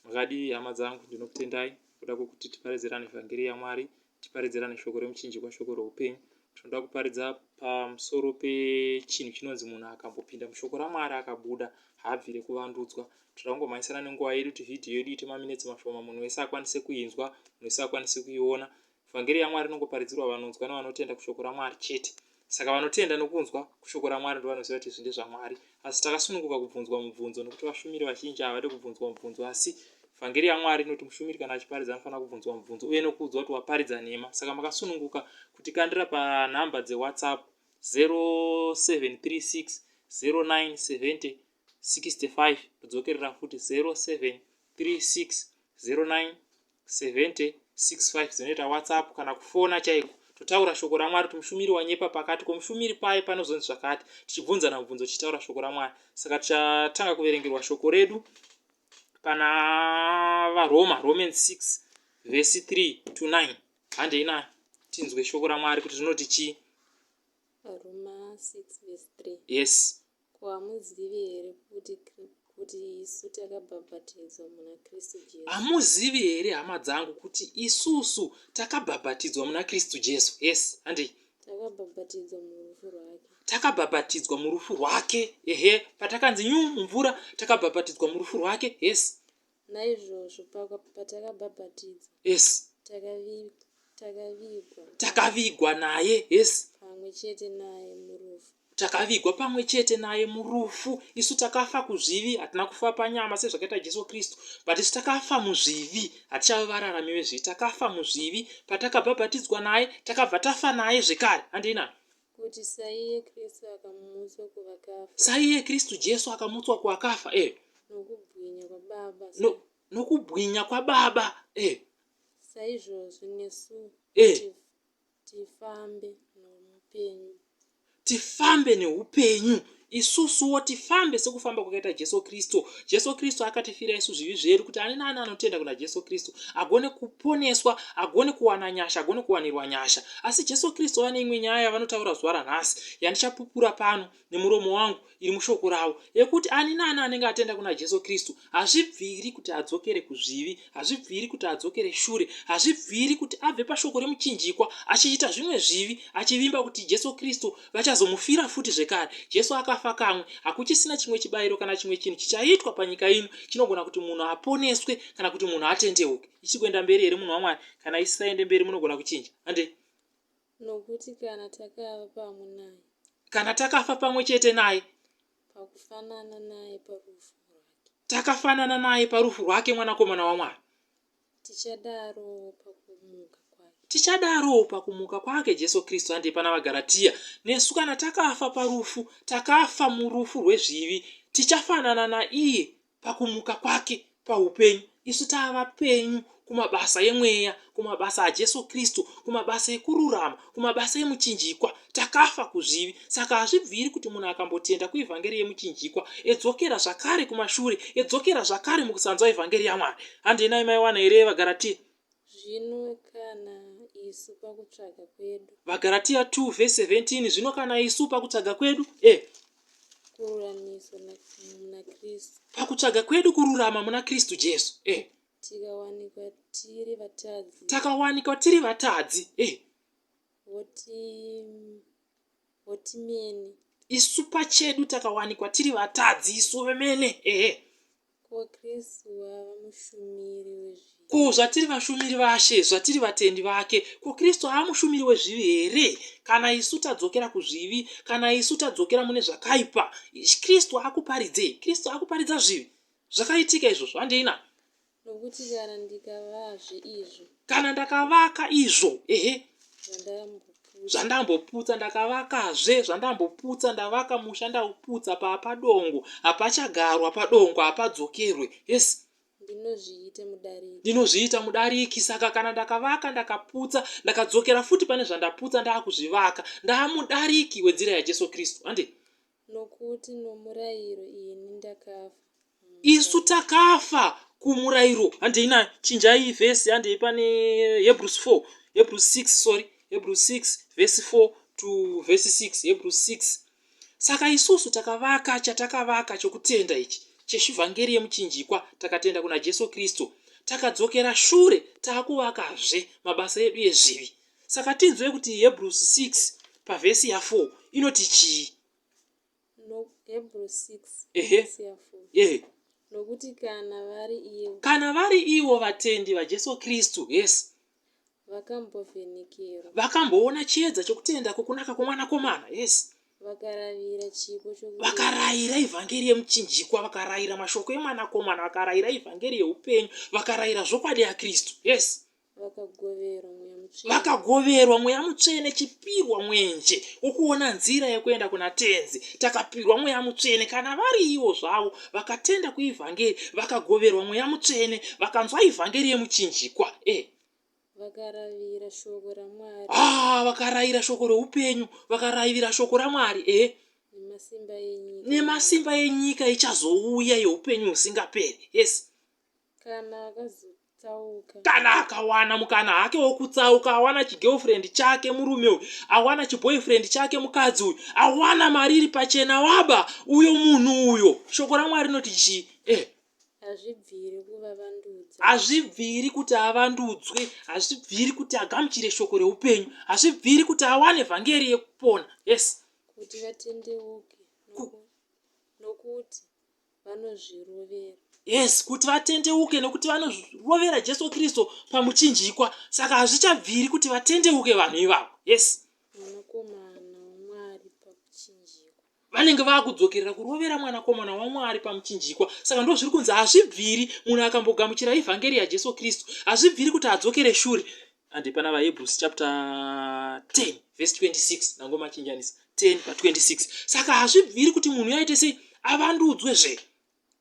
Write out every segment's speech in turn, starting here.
makadii hama dzangu ndinokutendai kuda kwokuti tiparidzirane vhangeri yamwari tiparidzirane shoko remuchinjikwa shoko reupenyu tinoda kuparidza pamusoro pechinhu chinonzi munhu akambopinda mushoko ramwari akabuda haabvire kuvandudzwa tinoda kungomhanyisana nenguva yedu kuti vhidhiyo yedu ite maminetsi mashoma munhu wese akwanise kuinzwa munhu wese akwanise kuiona Vhangeri yaMwari inongoparidzirwa vanonzwa nevanotenda kushoko raMwari chete. Saka vanotenda nokunzwa kushoko raMwari ndovanoziva kuti izvi ndezvaMwari. Asi takasununguka kubvunzwa mubvunzo nokuti vashumiri vazhinji havade kubvunzwa mubvunzo. Asi Vhangeri yaMwari inoti mushumiri kana achiparidza anofanira kubvunzwa mubvunzo uye nokuudzwa kuti waparidza nhema. Saka makasununguka kutikandira panhamba dzeWhatsApp 0736 0970 65 kudzokerera futi 0736 09 7065 dzinoita whatsapp kana kufona chaiko totaura shoko ramwari kuti mushumiri wanyepa pakati komushumiri paye panozonzi zvakati tichibvunzana mubvunzo tichitaura shoko ramwari saka tichatanga kuverengerwa shoko redu pana varoma roman 6 vhesi 3 to 9 handei nayo tinzwe shoko ramwari kuti rinoti chii yes Ko hamuzivi here kuti kuti isu takabhabhatidzwa muna Kristu Jesu? Hamuzivi here hama dzangu kuti isusu takabhabhatidzwa muna Kristu Jesu? Yes, handei. Takabhabhatidzwa murufu rwake. Takabhabhatidzwa murufu rwake. Ehe, patakanzi nyu mumvura takabhabhatidzwa murufu rwake. Yes. Naizvozvo paka, patakabhabhatidzwa, yes, takavigwa, takavigwa, takavigwa naye, yes, pamwe chete naye murufu, takavigwa pamwe chete naye murufu. Isu takafa kuzvivi, hatina kufa panyama sezvakaita Jesu Kristu, but isu takafa muzvivi, hatichave vararami vezvivi, takafa muzvivi patakabhabhatidzwa naye, takabva tafa naye zvekare. Handina Kuti saiye Kristu akamutswa kuvakafa. Saiye Kristu Jesu akamutswa kuvakafa, eh. Nokubwinya kwaBaba. No, nokubwinya kwaBaba, eh. Saizvozvo nesu. Eh. Tif, tifambe noupenyu. Tifambe neupenyu. Isusuwo tifambe sekufamba kwakaita Jesu Kristu. Jesu Kristu akatifira isu zvivi zvedu kuti ani naani anotenda kuna Jesu Kristu agone kuponeswa, agone kuwana nyasha, agone kuwanirwa nyasha. Asi Jesu Kristu vane imwe nyaya yavanotaura zuva ranhasi yandichapupura pano nemuromo wangu iri mushoko ravo yekuti ani naani anenge atenda kuna Jesu Kristu hazvibviri kuti adzokere kuzvivi, hazvibviri kuti adzokere shure, hazvibviri kuti abve pashoko remuchinjikwa achiita zvimwe zvivi achivimba kuti Jesu Kristu Vachazomufira futi zvekare. Jesu akafa kamwe. Hakuchisina chimwe chibayiro kana chimwe chinhu chichaitwa panyika ino chinogona kuti munhu aponeswe kana kuti munhu atendeuke. Ichiri kuenda mberi here munhu waMwari? Kana isisaende mberi munogona kuchinja. Handei? Nokuti kana takava pamwe naye. Kana takafa pamwe chete naye. Pakufanana naye parufu rwake. Takafanana naye parufu rwake mwanakomana waMwari. Tichadarowo pakumuka kwake. Tichadarowo pakumuka kwake Jesu Kristu handei pana vaGaratia nesu kana takafa parufu takafa murufu rwezvivi tichafanana naiye pakumuka kwake paupenyu isu tava penyu kumabasa emweya kumabasa aJesu Kristu kumabasa ekururama kumabasa emuchinjikwa takafa kuzvivi saka hazvibviri kuti munhu akambotenda kuivhangeri yemuchinjikwa edzokera zvakare kumashure edzokera zvakare mukusanzwa ivhangeri yamwari handenai maiwana here vagaratia zvino kana isu pakutsvaga kwedu vagaratia 2 ve 17 zvino kana isu pakutsvaga kwedu e eh. kururamiswa muna kristu pakutsvaga kwedu kururama muna kristu jesu e eh. Tikawanikwa tiri vatadzi. Takawanikwa tiri vatadzi. Eh. Woti wotimene. Isu pachedu takawanikwa tiri vatadzi isu vemene. Eh. eh. Ko Kristu wava mushumiri wezvivi. Ko zvatiri vashumiri vashe, zvatiri vatendi vake, ko Kristu ava mushumiri wezvivi here? Kana isu tadzokera kuzvivi, kana isu tadzokera mune zvakaipa, Kristu akuparidzei? Kristu akuparidza zvivi. Zvakaitika izvozvo, handei na. Nokuti kana ndikavazve izvo. Kana ndakavaka izvo, ehe. Zvandamboputsa ndakavakazve, zvandamboputsa ndavaka musha ndauputsa papa dongo, hapachagarwa padongo, hapadzokerwe. Yes. Ndinozviita mudariki. Ndinozviita mudariki, saka kana ndakavaka ndakaputsa, ndakadzokera futi pane zvandaputsa ndaakuzvivaka, ndaamudariki wedzira yaJesu Kristu. Handei? Nokuti nomurayiro ini ndakafa. Isu takafa kumurayiro. Handei nayo, chinjai vhesi, handei pane Hebrews 4, Hebrews 6, sorry, Hebrews 6 vhesi 4 to vhesi 6, Hebrews 6. Saka isusu takavaka chatakavaka chokutenda ichi cheshivhangeri yemuchinjikwa, takatenda kuna Jesu Kristu, takadzokera shure, taakuvakazve mabasa edu ezvivi. Saka tinzwe kuti Hebrews 6 pavhesi ya 4 inoti chii? No, Hebrews 6 Ehe. vhesi ya 4. Ehe. Nokuti kana vari ivo Kana vari ivo vatendi vaJesu Kristu, yes, vakambovhenekerwa, vakamboona chiedza chokutenda kwokunaka kwomwanakomana, yes, vakaravira chipo chokudenga, vakarayira ivhangeri yemuchinjikwa, vakarayira mashoko emwanakomana, vakarayira ivhangeri yeupenyu, vakarayira zvokwadi yaKristu, yes, Vakagoverwa Mweya Mutsvene. vakagoverwa mweya mutsvene chipirwa mwenje wokuona nzira yekuenda kuna tenzi takapirwa mweya mutsvene kana vari ivo zvavo vakatenda kuivhangeri vakagoverwa mweya mutsvene vakanzwa ivhangeri yemuchinjikwa e Vakaravira shoko raMwari ah vakaraira shoko reupenyu vakaraivira shoko ramwari e nemasimba enyika. nemasimba enyika ichazouya yeupenyu husingaperi yes Kana akazotsauka. Kana akawana mukana hake wokutsauka awana chigirlfriend chake murume uyu awana chiboyfriend chake mukadzi uyu awana mari iri pachena waba uyo munhu uyo shoko raMwari rinoti chii eh hazvibviri kuvavandudza hazvibviri kuti avandudzwe hazvibviri kuti agamuchire shoko reupenyu hazvibviri kuti awane vhangeri yekupona yes kuti vatendeuke nokuti vanozvirovera. Yes, kuti vatendeuke nekuti vanorovera Jesu Kristu pamuchinjikwa. Saka hazvichabviri kuti vatendeuke vanhu ivavo. Yes. Mwanakomana waMwari pamuchinjikwa. Vanenge vakudzokerera kurovera mwanakomana waMwari pamuchinjikwa. Saka ndozviri kunzi hazvibviri munhu akambogamuchira evhangeri yaJesu Kristu. Hazvibviri kuti adzokere shure. Handi pana vaHebrews chapter 10 verse 26 ndangomachinjanisa 10 pa 26 saka hazvibviri kuti munhu yaite sei avandudzwe zve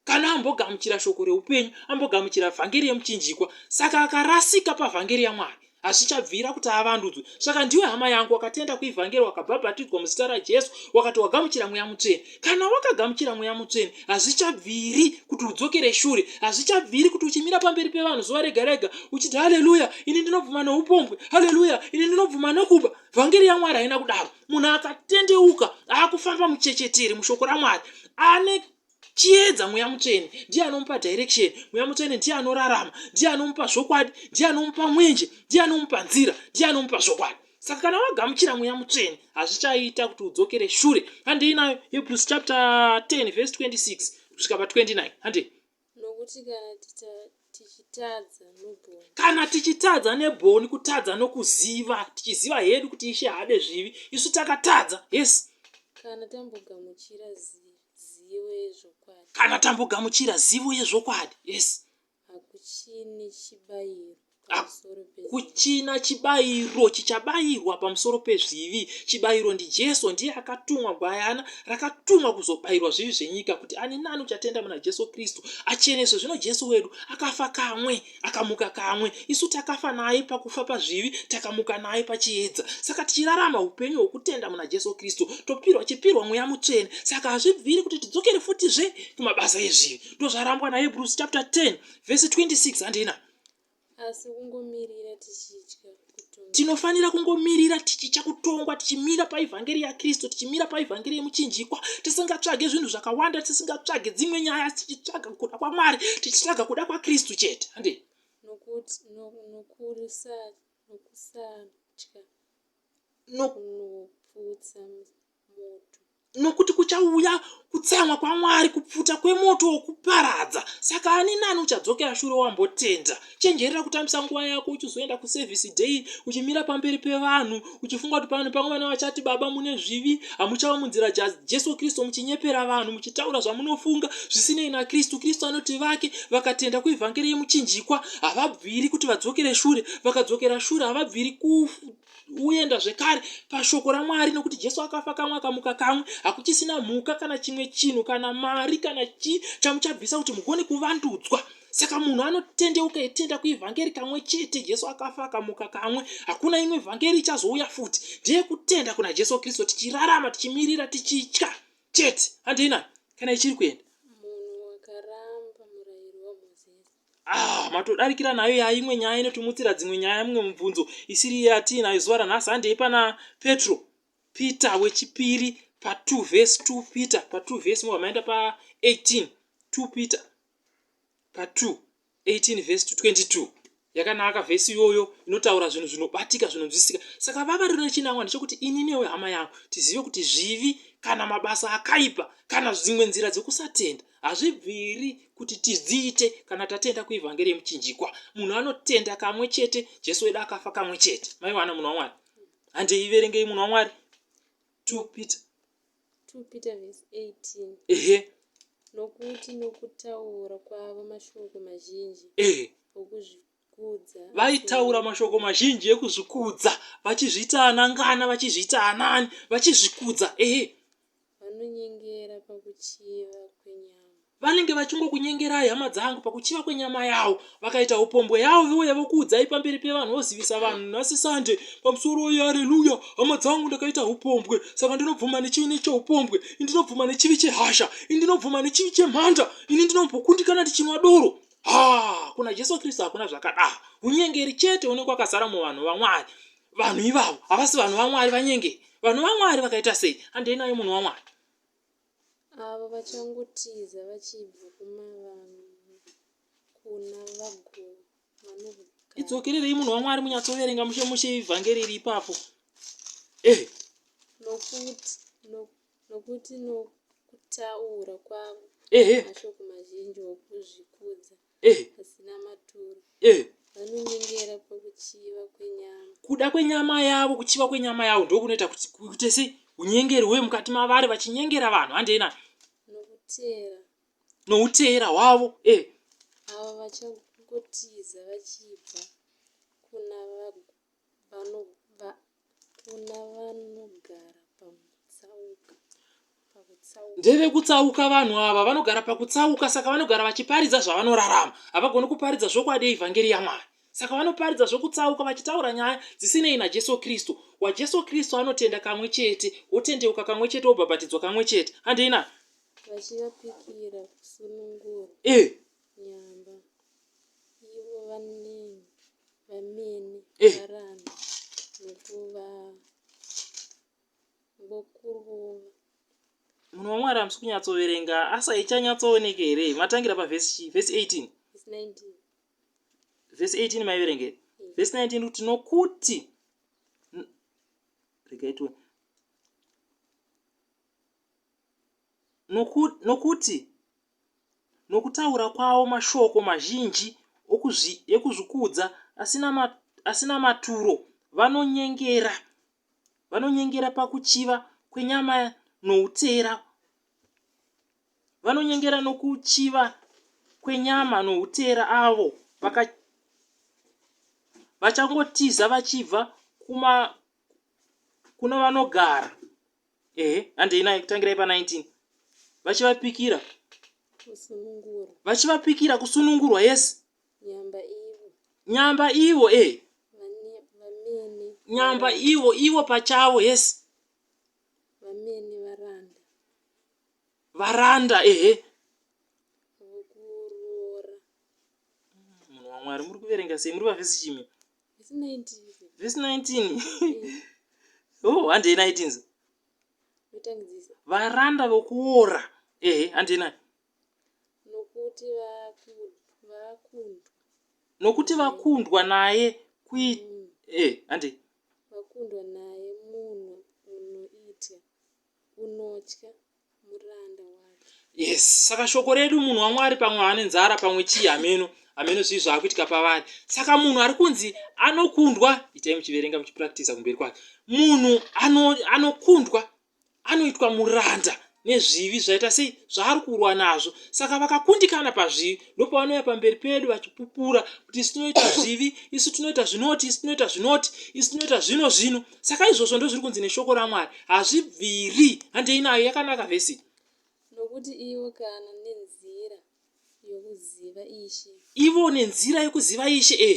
kana ambogamuchira shoko reupenyu ambogamuchira vhangeri yemuchinjikwa saka akarasika pavhangeri yamwari hazvichabvira kuti avandudzwe saka ndiwe hama yangu wakatenda kuivhangeri wakabhabhatidzwa muzita rajesu wakati wagamuchira mweya mutsvene kana wakagamuchira mweya mutsvene hazvichabviri kuti udzokere shure hazvichabviri kuti uchimira pamberi pevanhu zuva rega rega uchiti haleluya ini ndinobvuma noupombwe haleluya ini ndinobvuma nokuba vhangeri yamwari haina kudaro munhu akatendeuka akufamba muchecheteri mushoko ramwari ane chiedza mweya mutsvene ndiye anomupa direction mweya mutsvene ndiye anorarama ndiye anomupa zvokwadi ndiye anomupa mwenje ndiye anomupa nzira ndiye anomupa zvokwadi saka kana wagamuchira mweya mutsvene hazvichaita kuti udzokere shure handei nayo hebrews chapter 10 verse 26 kusvika pa 29 handei nokuti kana tichitadza nebhoni kana tichitadza nebhoni kutadza nokuziva tichiziva hedu kuti ishe haade zvivi isu takatadza yes kana tambogamuchira zivo yezvokwadi kana tambogamuchira zivo yezvokwadi yes Hakuchine chibayiro pamusoro pezvivi. Hakuchina chibayiro chichabayirwa pamusoro pezvivi. Chibayiro ndiJesu. Ndiye akatumwa gwayana rakatumwa kuzobayirwa zvivi zvenyika kuti ani nani uchatenda muna Jesu Kristu acheneswe. Zvino Jesu wedu akafa kamwe akamuka kamwe. Isu takafa naye pakufa pazvivi takamuka naye pachiedza. Saka tichirarama upenyu hwokutenda muna Jesu Kristu topirwa chipirwa mweya mutsvene. Saka hazvibviri kuti tidzokere futizve kumabasa ezvivi. ndozvarambwa nahebrews chapter 10 vhesi 26 handina asi kungomirira tichitya tinofanira kungomirira tichitya kutongwa tichimira paevhangeri yakristu tichimira paevhangeri yemuchinjikwa tisingatsvage zvinhu zvakawanda tisingatsvage dzimwe nyaya tichitsvaga kuda kwamwari tichitsvaga kuda kwakristu chete hande nokusatya nokuputsa moto. Nokuti kuchauya kutsamwa kwaMwari, kupfuta kwemoto wokuparadza. Saka ani nani uchadzokera shure wambotenda? Chenjerera kutambisa nguva yako uchizoenda kusevhisi day, uchimira pamberi pevanhu, uchifunga kuti vanhu pamwe vana vachati, Baba, mune zvivi, hamuchavamunzira Jesu Kristu, muchinyepera vanhu, muchitaura zvamunofunga zvisinei naKristu. Kristu anoti vake vakatenda kuevhangeri yemuchinjikwa havabviri kuti vadzokere shure, vakadzokera shure havabviri kufa. uenda zvekare pashoko ramwari nokuti jesu akafa kamwe akamuka kamwe hakuchisina mhuka kana chimwe chinhu kana mari kana chii chamuchabvisa kuti mugone kuvandudzwa saka munhu anotendeuka etenda kuevhangeri kamwe chete jesu akafa akamuka kamwe hakuna imwe vhangeri ichazouya futi ndiye kutenda kuna jesu kristu tichirarama tichimirira tichitya chete handei nani kana ichiri kuenda munhu wakaramba murayiro wamozisi Ah, matodarikira nayo yaa imwe nyaya inotimutsira dzimwe nyaya mumwe mubvunzo isiri iye atiinayo zuva ranhasi handei pana petro peter wechipiri pa 2 vhesi 2 peter pa 2 vhesi mobva maenda pa 18 2 peter pa 2 18 vhesi 22 yakanaka vhesi iyoyo inotaura zvinhu zvinobatika zvinonzwisika saka vava rino chinangwa ndechekuti ini newe hama yangu tizive kuti zvivi kana mabasa akaipa kana dzimwe nzira dzekusatenda Hazvibviri kuti tidziite kana tatenda kuivhangeri yemuchinjikwa. Munhu anotenda kamwe chete, Jesu wedu akafa kamwe chete. Maiwana munhu waMwari? Handei iverengei munhu waMwari. 2 Peter. 2 Peter verse 18. Ehe. Nokuti nokutaura kwavo mashoko mazhinji. Ehe. Okuzvi Vaitaura mashoko mazhinji ekuzvikudza, vachizviita anangana, vachizviita anani, vachizvikudza. Ehe. Vanonyengera pakuchiva kwenyama. Vanenge vachingokunyengerai hama dzangu pakuchiva kwenyama yavo. Vakaita upombwe yavo vouya vokuudzai pamberi pevanhu vozivisa vanhu nhasi sande pamusoro uye haleluya hama dzangu ndakaita upombwe saka ndinobvuma nechivi necheupombwe ini ndinobvuma nechivi chehasha ini ndinobvuma nechivi chemhanda ini ndinombokundikana ndichinwa doro haa kuna jesu kristu hakuna zvakadaro unyengeri chete une kwakazara muvanhu vamwari vanhu ivavo havasi vanhu vamwari vanyengeri vanhu vamwari vakaita sei handei nayo munhu wamwari avo vachangotiza vachibva kumavanhu kuna vago vanogara idzokererei munhu wamwari munyatsoverenga mushe mushe ivhangeri iri ipapo eh nokuti nokuti Nokuti nokutaura kwavo mashoko mazhinji okuzvikudza asina maturo, vanonyengera pakuchiva kwenyama. Kuda kwenyama yavo, kuchiva kwenyama yavo ndiko kunoita kuti kuite sei? Unyengeri huye mukati mavari vachinyengera vanhu handei nani? Nokuteera. Nouteera hwavo. Eh. Avo vachangotiza vachibva kuna Vanobva kuna vanogara pakutsauka. Pakutsauka. Ndevekutsauka vanhu ava, vanogara pakutsauka, saka vanogara vachiparidza zvavanorarama. Havagoni kuparidza zvokwadi yeEvhangeri yaMwari. Saka vanoparidza zvokutsauka vachitaura nyaya dzisinei naJesu Kristu. WaJesu Kristu anotenda kamwe chete, wotendeuka kamwe chete, wobhabhatidzwa kamwe chete. Handina? Vachivapikira kusunungurwa. Eh. Nyamba. munhu wamwari hamusi kunyatsoverenga asa ichanyatsooneke here matangira pavhesi chii vhesi 18 vhesi 18 maiverenge vhesi 19 kuti nokuti regaitwe nokuti nokutaura kwavo mashoko mazhinji okuzvi, ekuzvikudza asina, ma, asina maturo, vanonyengera, vanonyengera pakuchiva kwenyama noutera, vanonyengera nokuchiva kwenyama noutera avo vaka, vachangotiza vachibva kuma, kuna vanogara. ehe handei nayo kutangirai pa 19 vachivapikira vachivapikira kusunungurwa yesi nyamba ivo e nyamba ivo ivo pachavo yesi varanda ehe munhu wamwari muri kuverenga sei muri vavhesi chimi vhesi 19 oh handei nai tinzi varanda vokuora ehe handei nai nokuti vakundwa nokuti vakundwa naye kui mm. eh handei vakundwa naye munhu unoitya kunotya muranda wake. Yes, saka shoko redu munhu waMwari pamwe ane nzara pamwe chii hameno hameno zvii zvaakuitika pavari. Saka munhu ari kunzi anokundwa, itai muchiverenga muchipractisa kumberi kwake. Munhu ano, anokundwa anoitwa muranda nezvivi zvaita sei zvaari kurwa nazvo saka vakakundikana pazvivi ndopavanouya pamberi pedu vachipupura kuti isu tinoita zvivi isu tinoita zvinoti isu tinoita zvinoti isu tinoita zvino zvino saka izvozvo ndozviri kunzi neshoko ramwari hazvibviri handei nayo yakanaka vhesi nokuti ivo kana nenzira yokuziva ishe ivo nenzira yokuziva ishe e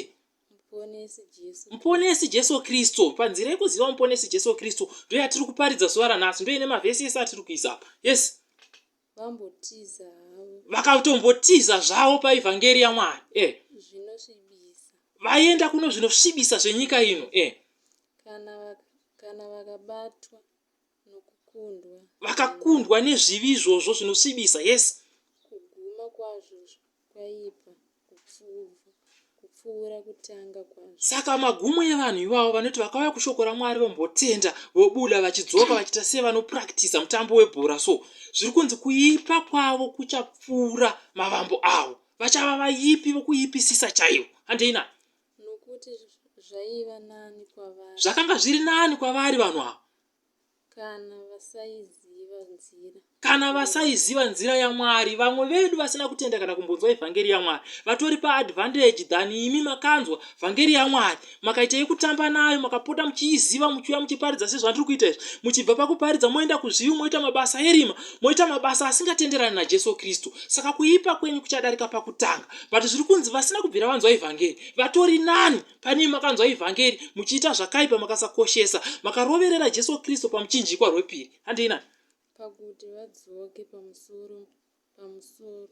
muponesi jesu kristu panzira yekuziva muponesi jesu kristu ndoyatiri kuparidza zuva ranhasi ndoine mavhesi ese atiri kuisa apa yes Vambotiza havo. Vakatombotiza zvavo paivhangeri yaMwari. Eh. Zvinosvibisa. Vaienda kuno zvinosvibisa zvenyika ino. Eh. Kana vakabatwa nokukundwa. Vakakundwa nezvivi izvozvo zvinosvibisa. Yes. Kuguma kwazvo kwaipa kupfuva kupfuura kutanga kwazvo. Saka magumo evanhu ivavo vanoti vakauya kushoko raMwari vombotenda vobuda vachidzoka vachiita sevanopurakitiza mutambo webhora so zviri kunzi kuipa kwavo kuchapfuura mavambo avo vachava vaipi vokuipisisa chaivo handeina nokuti zvaiva nani kwavari zvakanga zviri nani kwavari vanhu ava Kana vasaiziva nzira. Kana vasaiziva nzira yaMwari. Vamwe vedu vasina kutenda kana kumbonzwa evhangeri yaMwari. Vatori pa advantage than imi makanzwa vhangeri yaMwari. Makaita yekutamba nayo makapota muchiiziva muchiuya muchiparidza sezvandiri kuita izvi. Muchibva pakuparidza moenda kuzvivi moita mabasa erima. Moita mabasa asingatenderani naJesu Kristu. Saka kuipa kwenyu kuchadarika pakutanga. But zviri kunzi vasina kubvira vanzwa evhangeri. Vatori nani. Pane makanzwa evhangeri muchiita zvakaipa makasakoshesa makaroverera Jesu Kristu pamuchinjikwa rwepiri. Handei nani. Pakuti vadzoke pamusoro pamusoro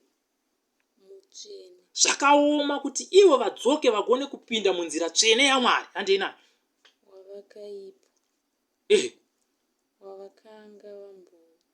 mutsvene. Zvakaoma kuti ivo vadzoke vagone kupinda munzira tsvene yaMwari. Handei nani. Wavakaipa. Eh. Wavakanga vambo.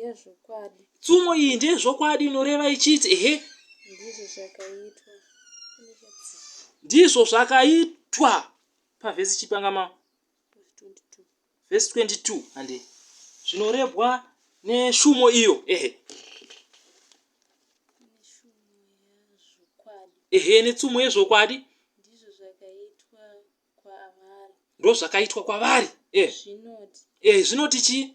yezvokwadi. Tsumo iyi ndeyezvokwadi inoreva ichiti, ehe. Ndizvo zvakaitwa. Ndizvo zvakaitwa pavhesi chipangama vhesi 22 hande zvinorebwa neshumo iyo ehe ehe netsumo yezvokwadi ndozvakaitwa kwavari ehe zvinoti chii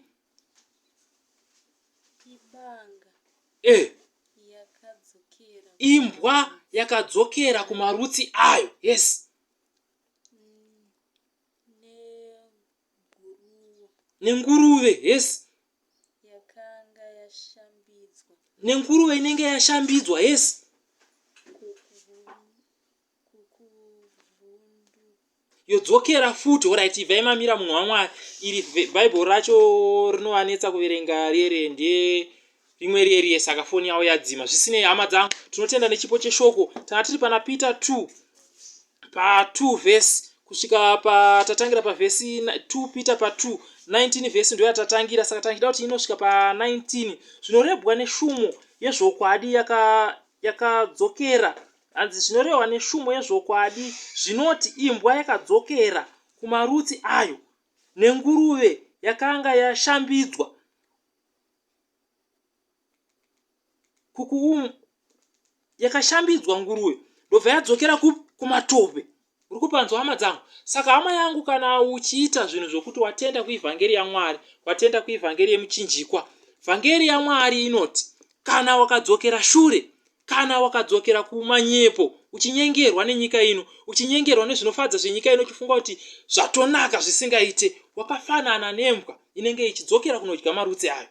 Imbwa yakadzokera kumarutsi ayo. Nenguruve inenge yashambidzwa. yodzokera futi orit ivai mamira munhu wamwari iri bhaibheri racho rinovanetsa kuverenga riere nde rimwe rieriye saka foni yavo yadzima zvisinei hama dzangu tinotenda nechipo cheshoko tanga tiri pana peter 2 pa 2 vhesi kusvika patatangira pavhesi 2 peter pa 2 19 vhesi ndo yatatangira saka tangida kuti inosvika pa 19 zvinorebwa neshumo yezvokwadi yakadzokera yaka Hanzi zvinorehwa neshumo yezvokwadi zvinoti imbwa yakadzokera kumarutsi ayo nenguruve yakanga yashambidzwa kukuum yakashambidzwa nguruve ndobva yadzokera kup kumatope Uri kupanzwa hama dzangu? Saka hama yangu kana uchiita zvinhu zvokuti watenda kuivhangeri yaMwari, watenda kuivhangeri yemuchinjikwa, vhangeri yaMwari inoti kana wakadzokera shure, kana wakadzokera kumanyepo, uchinyengerwa nenyika ino, uchinyengerwa nezvinofadza zvenyika ino, uchifunga kuti zvatonaka zvisingaite, wakafanana nembwa inenge ichidzokera kunodya marutsi ayo.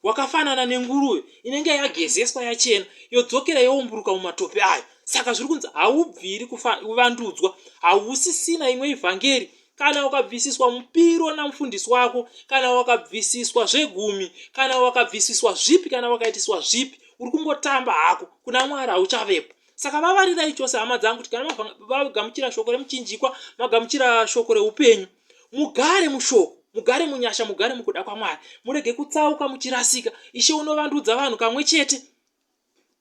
wakafanana nenguruve inenge yagezeswa yachena yodzokera youmburuka mumatope ayo saka zviri kunzi haubviri kuvandudzwa hausisina imwe ivhangeri kana ukabvisiswa mupiro namufundisi wako kana wakabvisiswa zvegumi kana wakabvisiswa zvipi kana wakaitiswa zvipi uri kungotamba hako kuna mwari hauchavepo saka vavarirai chose hama dzangu kuti kana magamuchira shoko remuchinjikwa magamuchira shoko reupenyu Mugare mushoko, mugare munyasha, mugare mukuda kwaMwari. Murege kutsauka muchirasika. Ishe unovandudza vanhu kamwe chete.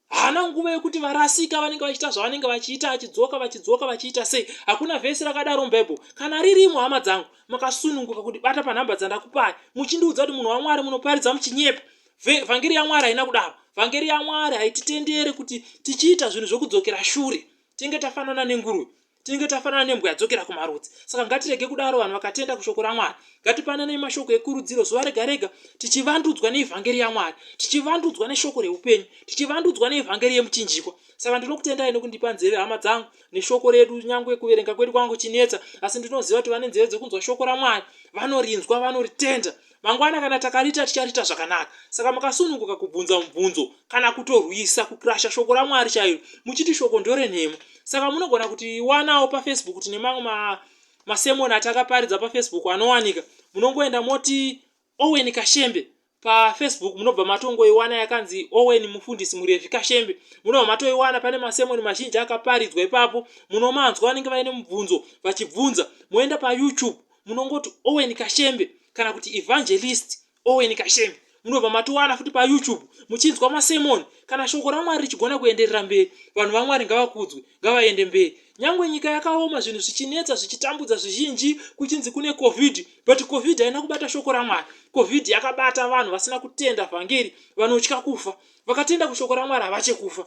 Haana nguva yekuti varasika vanenge vachiita zvavanenge vachiita achidzoka vachidzoka vachiita sei. Hakuna vhesi rakadaro muBible. Kana ririmo hama dzangu, makasununguka kuti bata panhamba dzandakupai. Muchindiudza kuti munhu waMwari munoparidza muchinyepa. Vhangeri yaMwari haina kudaro. Vhangeri yaMwari haititendere kuti tichiita zvinhu zvokudzokera shure. Tinge tafanana nenguruve. tinenge tafanana nembwa yadzokera kumarudzi saka ngatirege kudaro vanhu vakatenda kushoko ramwari ngatipananei mashoko ekurudziro zuva rega rega tichivandudzwa neevhangeri yamwari tichivandudzwa neshoko reupenyu tichivandudzwa neevhangeri yemuchinjikwa saka ndinokutendai nekundipa nzeve hama dzangu neshoko redu nyange kuverenga kwedu kwangu chinetsa asi ndinoziva kuti vane nzeve dzekunzwa shoko ramwari vanorinzwa vanoritenda Mangwana kana takariita tichariita zvakanaka. Saka makasununguka kubvunza mubvunzo kana kutorwisa kukrasha shoko raMwari chairo muchiti shoko ndorenhema. Saka munogona kutiwanawo paFacebook tine mamwe ma, masemoni atakaparidza paFacebook anowanika. Munongoenda moti Owen Kashembe pafacebook munobva matongoiwana yakanzi owen mufundisi murevi kashembe munobva matoiwana pane masemoni mazhinji akaparidzwa ipapo munomanzwa vanenge vaine mubvunzo vachibvunza moenda payoutube munongoti owen kashembe kana kuti evangelist owen kashembe munobva matowana futi payoutube muchinzwa masemoni kana shoko ramwari richigona kuenderera mberi vanhu vamwari ngavakudzwe ngavaende mberi nyange nyika yakaoma zvinhu zvichinetsa zvichitambudza zvizhinji kuchinzi kune covid but covid haina kubata shoko ramwari covid yakabata vanhu vasina kutenda vhangeri vanotya kufa vakatenda kushoko ramwari havachekufa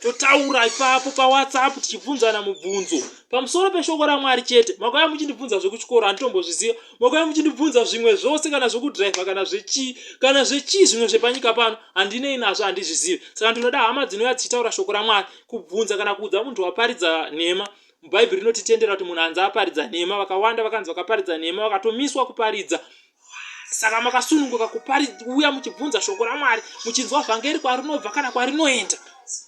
totaura ipapo pawhatsapp tichibvunzana mubvunzo pamusoro peshoko ramwari chete makauya muchindibvunza zvekuchikoro handitombozviziva makauya muchindibvunza zvimwe zvose kana zvekudriver kana zvechii kana zvechii zvimwe zvepanyika pano handinei nazvo handizvizivi saka ndinoda hama dzinouya dzichitaura shoko ramwari kubvunza kana kuudza munhu waparidza nhema bhaibheri rinotitendera kuti munhu anzi aparidza nhema vakawanda vakanzi vakaparidza nhema vakatomiswa kuparidza saka makasununguka kupari uya muchibvunza shoko ramwari muchinzwa vhangeri kwarinobva kana kwarinoenda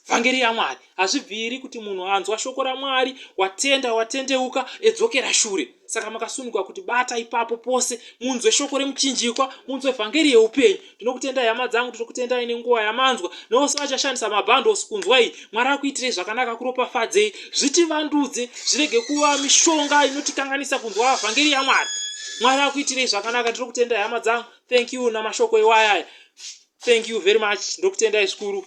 vhangeri yamwari hazvibviri kuti munhu anzwa shoko ramwari watenda watendeuka edzokera shure saka makasununguka kuti bata ipapo pose munzwe shoko remuchinjikwa munzwe vhangeri yeupenyu Ndinokutendai hama dzangu, ndinokutendai nenguva yamanzwa neose vachashandisa mabundles kunzwa iyi. Mwari akuitirei zvakanaka, akuropafadzei, zvitivandudze, zvirege kuva mishonga inotikanganisa kunzwa vhangeri yaMwari. Mwari akuitirei zvakanaka, ndinokutendai hama dzangu. Thank you namashoko iwayaya. Thank you very much, ndokutendai zvikuru.